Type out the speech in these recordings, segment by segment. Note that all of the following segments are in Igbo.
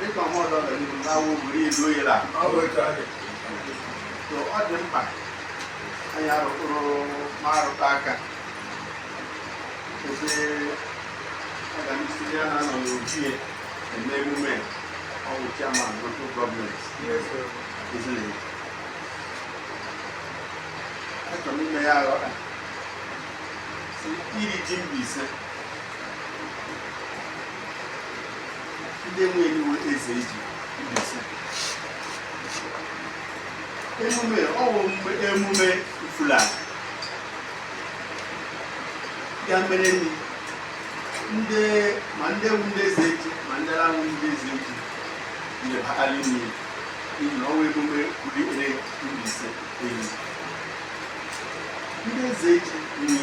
dịka ọmọdụ ọganihu na-awụ buru ilu oyere a ọ dị mkpa anyị arụtụrụ ma arụta aka ebe ọganihu ya na-anọ n'ojie eme emume ọwụ chairman local government Ezeji achọrọ m ime ya aghọta iri ji Mbaise ndị nwe iwu Ezeji Mbaise emume ọwụ mgbe emume fulani ya mere nri ndị ma ndị wụ ndị Ezeji ma ndị awụ ndị Ezeji na-ebakarị nri n'ihi na ọwụ emume pụrụ ikpere Mbaise enyi ndị Ezeji nri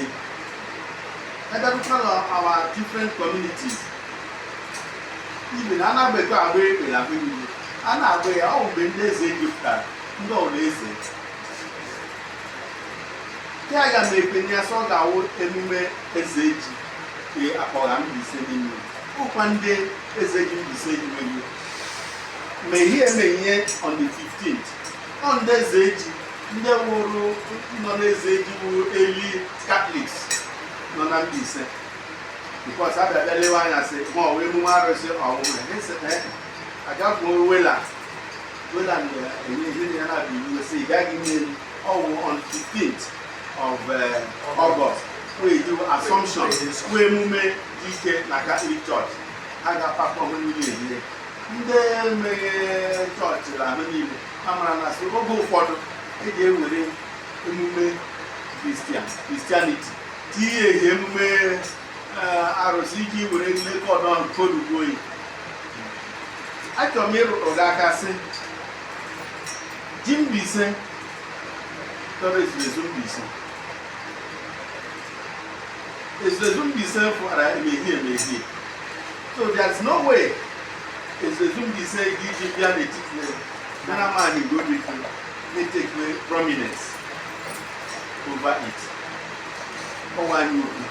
Ebe bụkwa our different communities even a na-agbakọ agba ekpe n'ebe niile a na-agba ya ọ wụ mgbe ndị Ezeji pụtara ndị ọrụ eze ya ga na ekpenye ya sọ ga-awụ emume Ezeji e akpọgha Mbaise n'ime ụkwa ndị Ezeji Mbaise ji nwere ma ihe emenye on the 15th ọ ndị Ezeji ndị wụrụ nọ n'Ezeji wụ early Catholics nọ na Mbaise because a bịa bịa lewe anya sị ma ọ wụ emume arụsị ọmụmụ agafụ wela wela na-enye ihe ya na-abụ iwu si ị gaghị nye ọwụ on 15th of uh, August we do Assumption wụ emume dị ike na Catholic Church ha ga-apakọ ọmụmụ niile ndị emeghị chọọchị na ala niile ha mara na sị oge ụfọdụ e ji ewere emume Christian Christianity tinye ehi emume eh, arụsị iji were nlekọ ọdọ ahụ kodugo oyi achọrọ m ịrụrụ gị aka sị ji Mbaise tọrọ Ezuruezu Mbaise Ezuruezu Mbaise fụara emehie emehie so there's no way Ezuruezu Mbaise ga iji bịa n'etiti nara maanyị nke obi fi na-etake prominence over it ọwa anyị okwu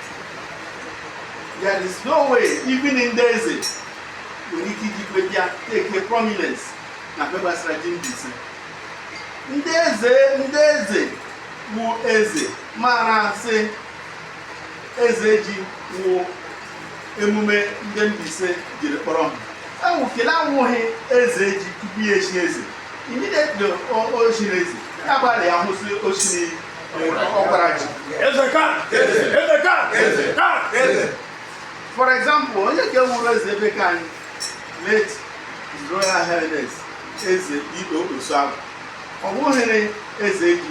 there is no way even ndị eze nwere ike iji bịa take prominence na mgbe gbasara ji Mbaise ndị eze ndị eze wụ eze mara sị eze ji wụ emume ndị Mbaise jiri kpọrọ ihe anwụ kele awụghị eze ji tupu ya echi eze immediately o chiri eze ya gbara ya hụ sị o chiri ọkwara ji for example onye ke wụrụ eze ebe ke anyị late His Royal Highness eze Igbo Osuagwu ọ wụghịrị eze ji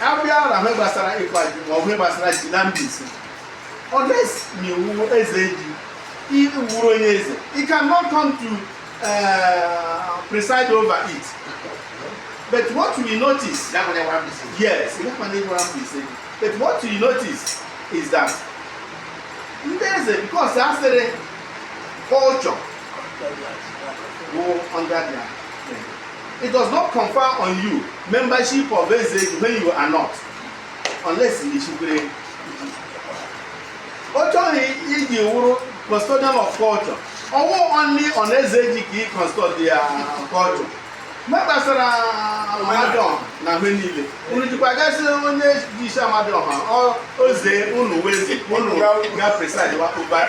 a bịa na ihe gbasara ịkwa ji ma ọ bụ ihe gbasara ji na Mbaise unless ma ị wụ eze ji ị wụrụ onye eze he cannot come to uh, preside over it but what we notice yes but what we notice is that ndị eze because a sịrị culture bụ under their It does not confer on you membership of eze when you are not unless you chikwere ọ chọghị iji wụrụ custodian of culture ọ wụ only on eze ji ka ị custodian culture ma ihe gbasara Amadioha na ihe niile unu jikwa ga asị onye ji isi Amadioha oze unu wụ eze unu ga preside over